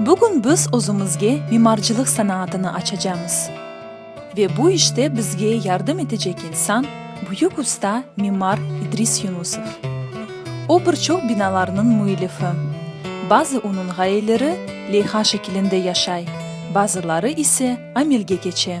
Bugün biz özümizge mimarcılıq sanaatını açacamız. Ve bu işte bizge yardım etecek insan, büyük usta, mimar İdris Yunusov. O bir çoq binalarnıñ müellifi. Bazı onıñ ğayeleri leyha şekilinde yaşay, bazıları ise amelge keçe.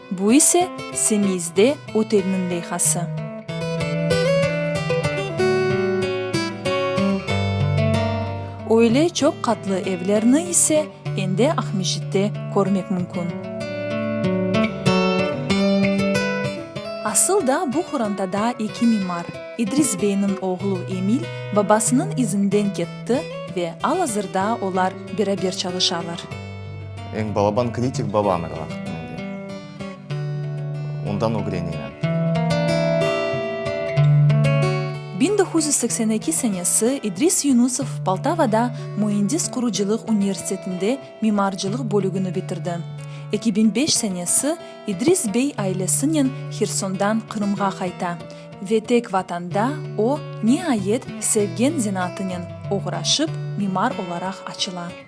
Bu ise, Semiyzde otelniñ leyhası. Öyle çoq qatlı evlerni ise endi Aqmescitte körmek mümkün. Asıl da bu qorantada eki mimar, İdris beyniñ oğlu Emil babasınıñ izinden ketti ve al-azırda olar beraber çalışalar. Eñ balaban kritik babam er vaqıt mende. Ondan ögrenemen. Biñ doquz yüz seksen eki senesi İdris Yunusov Poltavada Müendis qurucılıq universitetinde mimarcılıq bölügini bitirdi. Eki biñ beş senesi İdris bey ailesinen Hersondan Qırımğa qayta ve tek Vatanda o, niayet, sevgen zenaatınen oğraşıp, mimar olaraq açıla.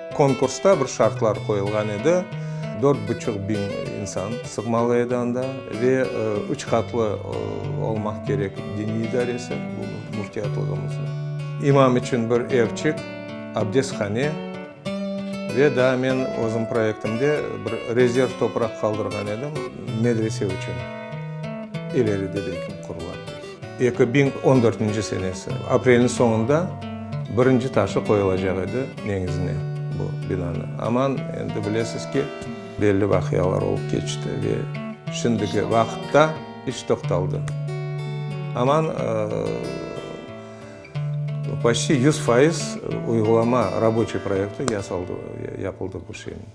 Konkursta bir şartlar qoyulğan edi, dört buçuq biñ insan sığmalı edi anda ve üç qatlı olmaq kerek diniy idaresi, bu müftiyatlığımıznıñ. İmam içün bir evçik, abdesthane ve daa men özüm proyektimde bir rezerv topraq qaldırğan edim, medrese içün, ileride belkim qurula. Eki biñ on dörtünci senesi aprelniñ soñunda birinci taşı qoyulacaq edi neñizine bu binanıñ. Aman, endi bilesiz ki, belli vaqialar olıp keçti ve şimdiki vaqıtta iş toqtaldı. Aman, poçti yüz fayız uyğulama raboçiy proyekti yasaldı, yapıldı bu şeyniñ.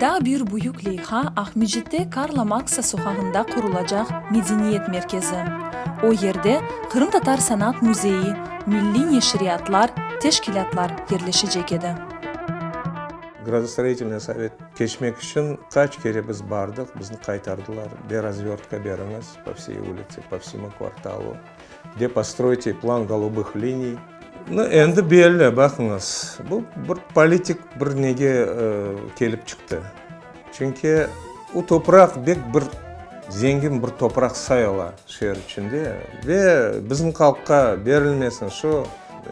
Daa bir büyük leyha Aqmecitte Karla Marksa soqağında qurulacaq Medeniyet merkezi. O yerde Qırımtatar sanat müzeyi, milliy neşriyatlar, teşkilâtlar yerleşecek edi. Gradostoroyitelnıy sovet keçmek içün qaç kere biz bardıq, bizni qaytardılar, be razvertka beriñiz, po vsey ulitse, po vsemu kvartalu. De postroyte plan golubıh liniy. Nı endi belli, baqıñız, bu bir politik bir nege kelip çıqtı. Çünki o topraq bek bir zengin bir topraq sayıla şeer içinde ve bizim halqqa berilmesin şu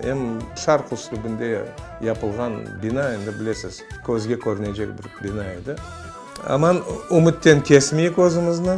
em şarq üslübinde yapılğan bina endi bilesiz, közge körünecek bir bina edi. Aman ümütten kesmeyik özümizni.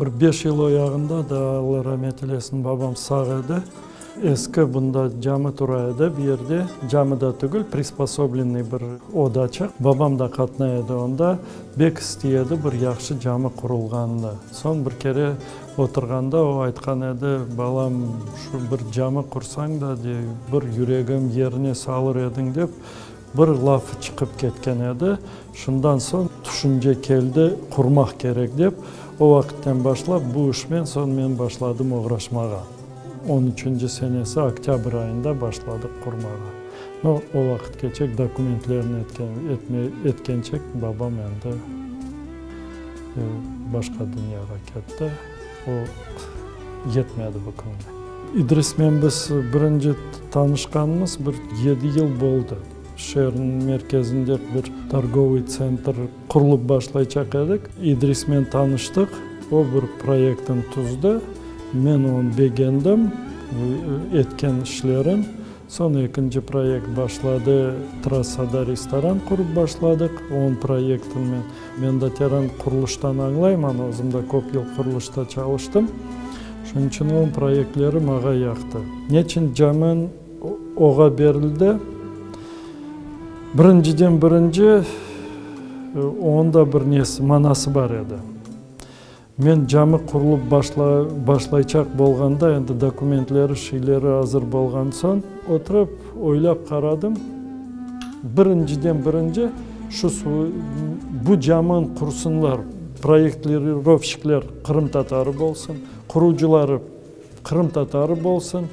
Bir beş yıl oyağında da, Alla ramet eylesin, babam sağ edi. Eski bunda cami tura edi, bir yerde, cami da tügül, prisposoblenniy bir odaçıq. Babam da qatnay edi onda. Bek istiy edi bir yahşı cami qurulğanını. Soñ bir kere oturğanda o aytqan edi, Balam, şu bir cami qursañ da, dey, bir yüregim yerine salır ediñ, dep. Bir lafı çıqıp ketken edi, şundan soñ tüşünce keldi, qurmaq kerek dep, o vaqıtten başlap bu işmen soñ men başladım oğraşmağa. On üçünci senesi oktâbr ayında başladıq qurmağa. No, o vaqıtkeçek dokumentlerni etken, etme, etkençek babam endi başqa dünyağa ketti. O yetmedi bu künge. İdrismen biz birinci tanışqanımız bir yedi yıl boldı. Şeerniñ merkezinde bir torgovıy tsentr qurulıp başlaycaq edik. İdrismen tanıştıq, o bir proyektni tuzdı, men onı begendim, etken işlerin. Soñ ekinci proyekt başladı, trassada restoran qurıp başladıq, onıñ proyektini men de teren qurulıştan añlayman, özüm de köp yıl qurulışta çalıştım, şunıñ içün onıñ proyektleri maña yaqtı. Neçün Camen oğa berildi? Birinciden birinci, onıñ da bir nesi, manası bar edi. Men cami qurulıp başlayçaq bolğanda, endi dokumentleri, şiyleri azır bolğan soñ, oturıp oylap qaradım, birinciden birinci, şu bu camın qursınlar, proyektlirovşikler qırımtatarı bolsun, qurucıları, qırımtatarı bolsun,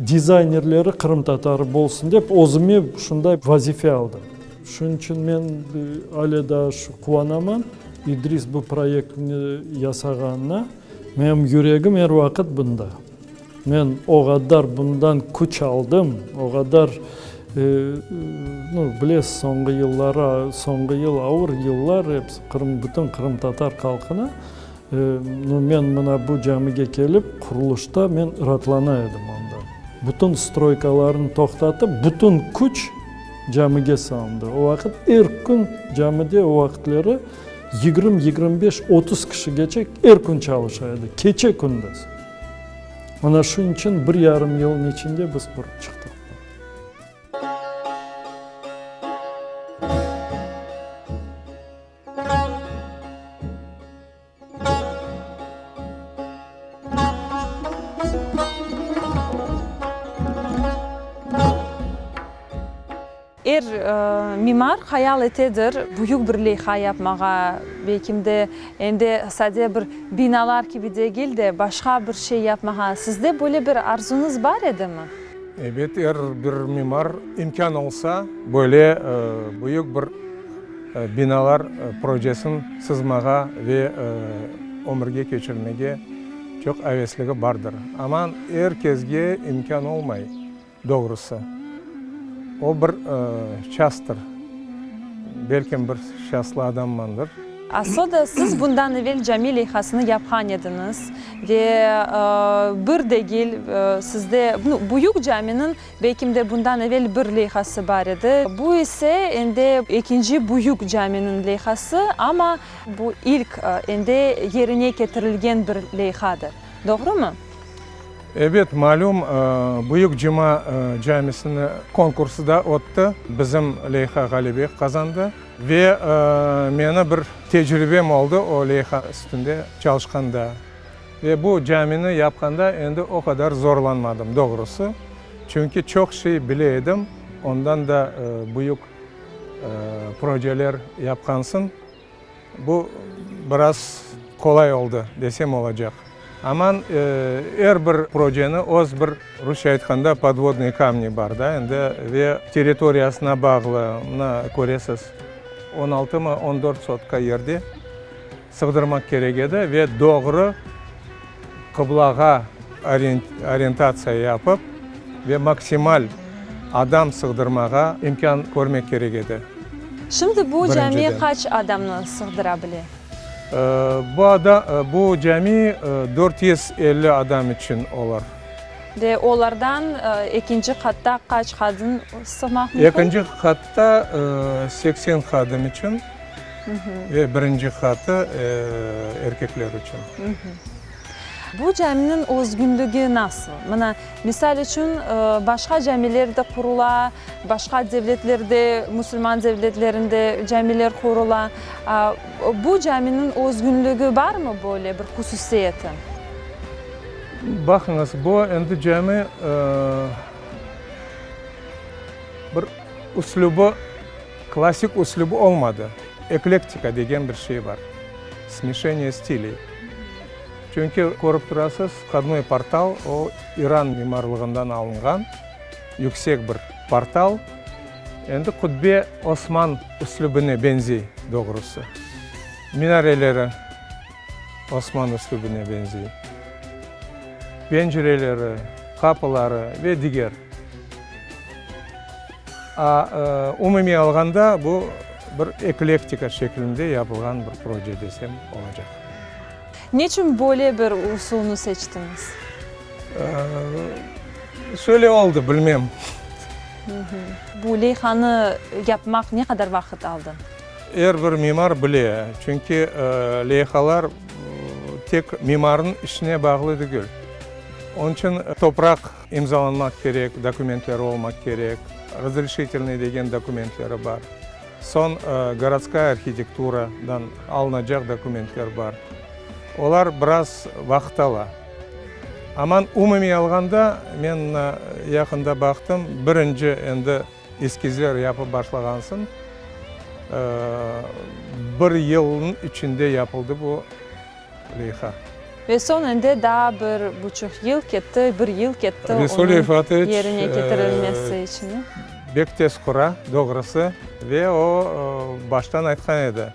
dizaynerleri qırımtatarı bolsun dep, özüme şunday vazife aldım. Şunıñ içün men ale daa quvanamam, İdris bu proyektni yasağanına. Menim yüregim er vaqıt bunda. Men o qadar bundan küç aldım, o qadar, no, bilesiz, soñğu yılları, soñğu yıl, ağır yıllar, bütün qırımtatar halqına No, men mına bu camige kelip, qurulışta men raatlana edim onda. Bütün stroykalarnı toqtatıp, bütün küç camige salındı. O vaqıt er kün camide o vaqıtları yigirmi, yigirmi beş, otuz kişigeçe er kün çalışa edi, keçe-kündüz. Mana şunıñ içün bir yarım yılnıñ içinde biz qurıp çıqtıq. Er mimar hayal etedir, büyük bir leyha yapmağa, belkim de, endi sade bir binalar kibi degil de, başqa bir şey yapmağa. Sizde böyle bir arzuñız bar edimi? Ebet, er bir mimar, imkân olsa, böyle büyük bir. Binalar projesin sızmağa ve ömürge keçirmege çoq avesligi bardır, amma er kezge imkân olmay, doğrusı. O bir şastır, belkim bir şaslı adammandır. Asoda siz bundan evel cami leyhasını yapğan ediñiz ve bir degil sizde büyük caminiñ Beykimde bundan evel bir leyhası bar edi. Bu ise endi ekinci büyük caminiñ leyhası, amma bu ilk endi yerine ketirilgen bir leyhadır. Doğrumı? Ebet, malüm, büyük cuma camisini konkursı da ötti. Bizim leyha ğalebe qazandı. Ve meni bir tecribem oldı o leyha üstünde çalışqanda. Ve bu camini yapqanda endi o qadar zorlanmadım, doğrusı. Çünki çoq şey bile edim, ondan da büyük projeler yapqansıñ. Bu biraz qolay oldı, desem olacaq. Aman, er bir projeni öz bir, rusça aytqanda, podvodnıy kamni bar da endi. Ve territoriyasına bağlı, mına, köresiz, on altımı, on dört sotka yerde Sığdırmaq kerek edi ve doğru qıblağa orientatsiya yapıp ve maksimal adam sığdırmağa imkân körmek kerek edi, birinciden. Şimdi bu cami qaç adamnı sığdıra bile? Bu cami dört yüz elli adam içün olar. Ve olardan ekinci qatta qaç hadım sığmaq mümkün? Ekinci qatta seksen hadım içün. Ve birinci qatı erkekler içün. Bu caminiñ özgünligi nasıl? Mına, misal içün, başqa camiler de qurula, başqa devletlerde, musulman devletlerinde camiler qurula. Bu caminiñ özgünligi barmı, böyle bir hususiyeti? Baqıñız, bu endi cami bir üslübi. Klassik üslüp olmadı, eklektika degen bir şey bar, smesheniye stiley. Çünki, körip turasız, vkhodnoy portal o, İran mimarlığından alınğan yüksek bir portal. Endi qubbe Osman üslübine benzey, doğrusı, minareleri. Osman üslübine benzey. Bencereleri, qapıları ve diger. A, umumiy alğanda bu bir eklektika şeklinde yapılğan bir proje desem olacaq. Neçün böyle bir usulnı seçtiñiz? Şöyle oldı, bilmem. Bu leyhanı yapmaq ne qadar vaqıt aldı? Er bir mimar bile, çünki leyhalar tek mimarnıñ işine bağlı degil. Onıñ içün topraq imzalanmaq kerek, dokumentleri olmaq kerek, razreşitelnıy degen dokumentleri bar, soñ gorodskaya arhitekturadan alınacaq dokumentler bar. Olar biraz vaqıt ala. Aman umumiy alğanda, men mına yaqında baqtım, birinci endi, Eskizler yapıp başlağansıñ, bir yılnıñ içinde yapıldı bu leyha. Ve soñ endi daa bir buçuq yıl ketti, bir yıl ketti onıñ yerine ketirilmesi içün. Bek tez qura, doğrusı, ve o baştan aytqan edi,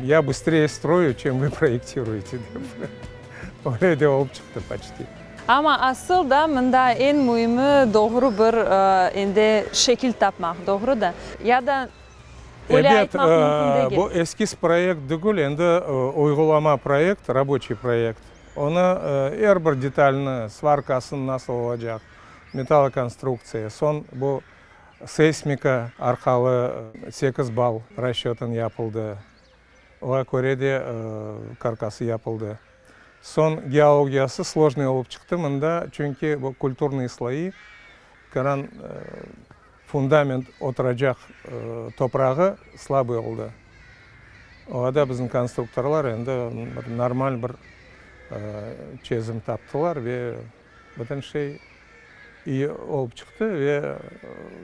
Ya bıstreye stroyu, çem vi proyektiruyete, dep. Öyle de olıp çıqtı, poçti. Amma asıl da mında eñ müimi doğru bir endi şekil tapmaq, doğru da? Ya da öyle aytmaq mümkün degil. Bu eskiz proyekt degil, endi uyğulama proyekt, raboçiy proyekt. Onı er bir detalni, svarkasını nasıl olacaq, metalokonstruktsiya, soñ bu seysmika arqalı sekiz bal raşötın yapıldı, oğa köre de karkası yapıldı. Soñ geologiyası slojnıy olıp çıqtı mında, çünki bu kulturnıy sloyi, qıran fundament oturacaq toprağı slabıy oldı. Oña da bizim konstruktorlar endi bir normal bir çezim taptılar ve. Bütün şey iyi olıp çıqtı ve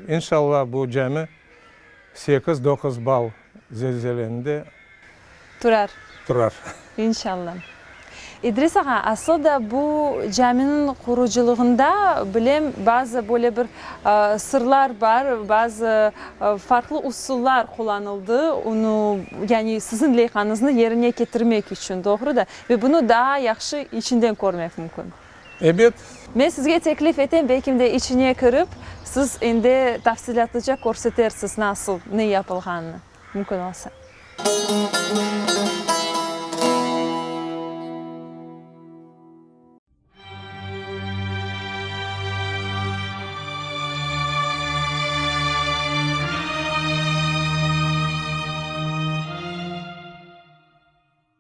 inşallah bu cami sekiz, doquz bal zelzeleninde. Turar. Turar. İnşallah. İdris ağa, asıl da bu caminiñ qurucılığında bilem bazı böyle bir sırlar bar, bazı farqlı usullar qullanıldı, onu, yani siziñ leyhanıznı yerine ketirmek içün, doğru da. Ve bunı daa yahşı içinden körmek mümkün. Ebet. Men sizge teklif etem, belkim de içine kirip, siz endi tafsilâtlıca körsetersiz nasıl, ne yapılğanını, mümkün olsa.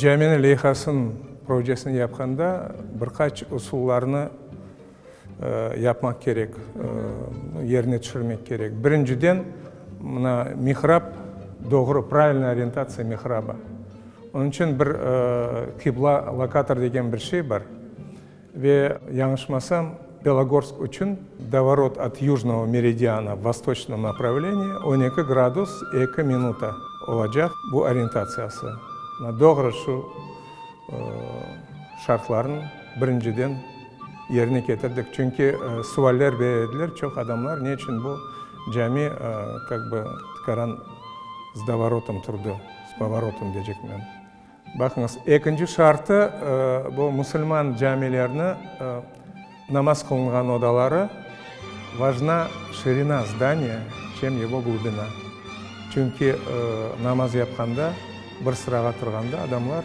Caminiñ leyhasınıñ projesini yapqanda bir qaç usullarnı yapmaq kerek, yerine tüşürmek kerek. Birinciden, mına mihrab, doğru, pravilnaya orientatsiya mihrabı. Onıñ içün bir qibla lokator degen bir şey bar. Ve yañışmasam, Belogorsk içün davorot at yujnovo meridiana v vostoçnıo napravleniye on eki gradus eki minuta olacaq bu orientatsiyası. Doğru, şu şartlarnı birinciden. Yerine ketirdik, çünki sualler berediler çoq adamlar, ne içün bu cami kak bı tıkaran s dovorotom turdı, s povorotom decekmen. Baqıñız, ekinci şartı, bu musulman camilerni namaz qılınğan odaları vajna şirina zdaniya, çem yego glubina. Çünki namaz yapqanda, bir sırağa turğanda adamlar.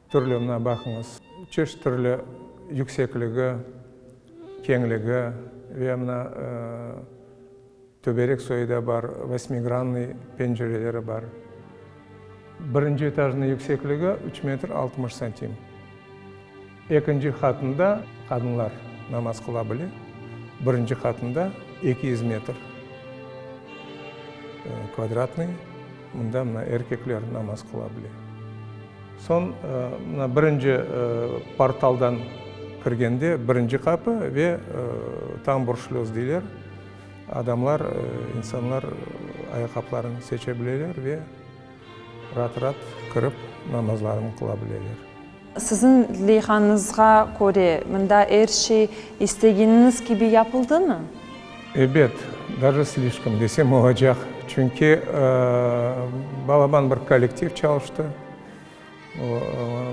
Türlü, mına baqıñız, çeşit türlü yüksekligi, keñligi ve mına töberek soyu da bar, vosmigrannıy pencereleri bar. Birinci etajnıñ yüksekligi üç metr altmış santim. Ekinci qatında qadınlar namaz qıla bile, birinci qatında eki yüz metr kvadratnıy. Mında mına erkekler namaz qıla bile. Soñ mına birinci portaldan kirgende, birinci qapı ve tamburşlöz deyler, adamlar, insanlar ayaqqapılarını seçe bileler ve raat-raat kirip namazlarını qıla bileler. Siziñ leyhañızğa köre, mında er şey istegeniniz kibi yapıldımı? Ebet, daje slişkom desem olacaq, çünki balaban bir kollektiv çalıştı, o,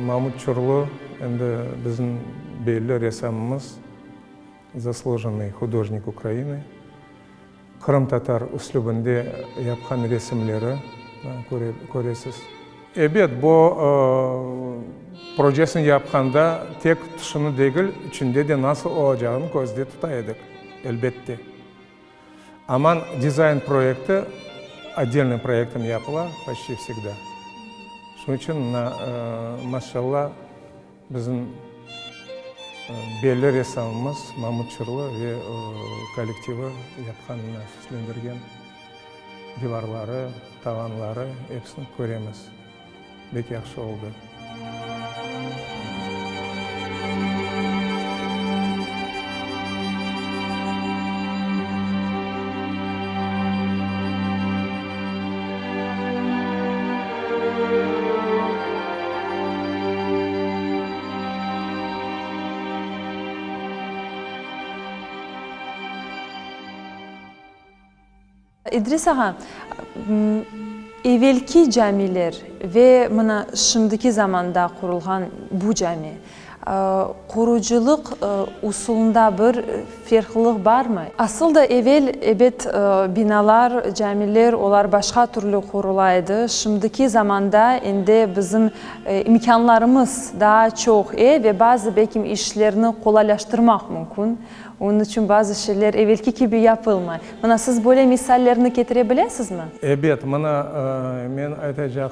Mamut Çurlu, endi bizim belli ressamımız, zaslujennoy hudojnik Ukrayinıy. Qırımtatar üslübinde yapqan resimleri köresiz. Ebet, bu projesini yapqanda tek tışını degil, içinde de nasıl olacağını közde tuta edik, elbette. Aman dizayn proyekti otdelnıy proyektten yapıla, poşti vsegda. Şunıñ içün, maşallah. Bizim belli ressamımız Mamut Çırlı ve kollektivi yapqan nefislendirgen divarları, tavanları, episini köremiz. Bek yahşı oldı. İdris ağa, evelki camiler ve mına şimdiki zamanda qurulğan bu cami, Qurucılıq usulında bir ferqlılıq barmı? Asıl da evel, ebet, binalar, camiler, olar başqa türlü qurula edi. Şimdiki zamanda endi bizim imkânlarımız daa çoq e, ve bazı belki işlerni qolaylaştırmaq mümkün. Onıñ içün bazı şeyler evelki kibi yapılmay. Mına, siz böyle misallerni ketire bilesizmi? Ebet, mına, men aytacaq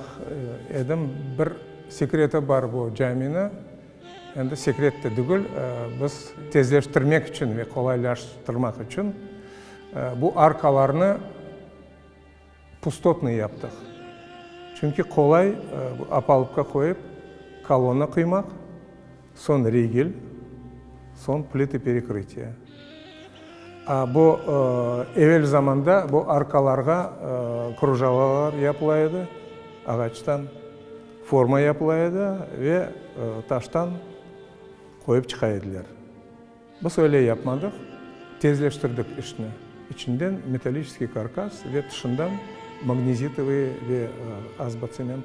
edim, bir. Sekreti bar bu camini, endi sekret de degil, biz tezleştirmek içün ve qolaylaştırmaq içün bu arkalarnı pustotnıy yaptıq. Çünki qolay opalubka qoyıp kolonna quymaq. Soñ rigel, soñ plita perekrıtiya. A, bu, evel zamanda bu arkalarğa krujalalar yapıla edi, ağaçtan forma yapıla edi ve taştan qoyıp çıqa ediler. Biz öyle yapmadıq, tezleştirdik işni, içinden metalliçeskiy karkas ve tışından magnezitovıy ve azbatsement.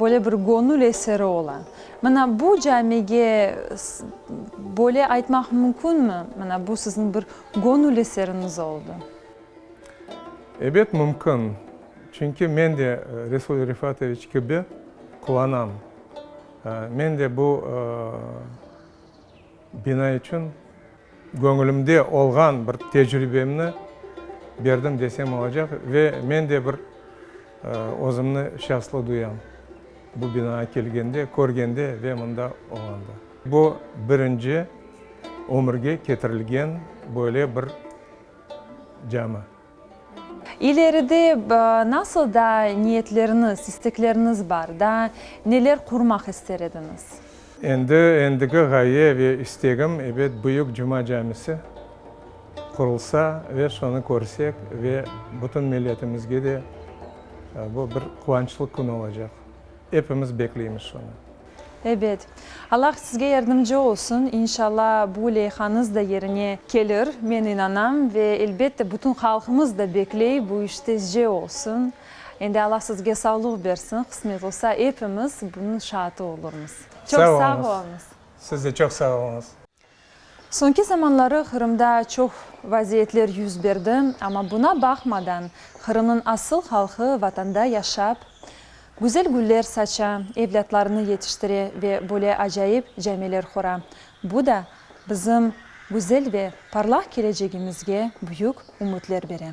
Böyle bir göñül eseri ola. Mana bu camige böyle aytmaq mümkünmi? Mana bu siziñ bir göñül eseriñiz oldı. Ebet mümkün. Çünki men de Resul Refatoviç kibi quvanam. Men de bu bina içün. Göñülimde olğan bir tecribemni berdim desem olacaq ve men de bir özümni şanslı duyam, bu binaya kelgende, körgende ve mında olğanda. Bu birinci ömürge ketirilgen böyle bir cami. İleride nasıl daa niyetleriniz, istekleriniz bar? Daa neler qurmaq ister ediñiz? Endi endigi ğaye ve istegim, ebet, Büyük Cuma camisi qurulsa ve şonı körsek ve bütün milletimizge de bu bir quvançlı kün olacaq. Epimiz bekleymiz şunı. Ebet. Allah sizge yardımcı olsun. İnşalla bu leyhanız da yerine kelir. Men inanam ve elbette bütün halqımız da bekley bu iş tezce olsun. Endi Allah sizge savluq bersin. Qısmet olsa epimiz bunıñ şaatı olurmız. Çoq sağ olunız. Siz de çoq sağ olunız. Soñki zamanları Qırımda çoq vaziyetler yüz berdi, amma buna baqmadan, Qırımnıñ asıl halqı Vatanda yaşap, güzel güller saça, evlâtlarını yetiştire ve böyle acayip camiler qura. Bu da bizim güzel ve parlaq kelecegimizge büyük ümütler bere.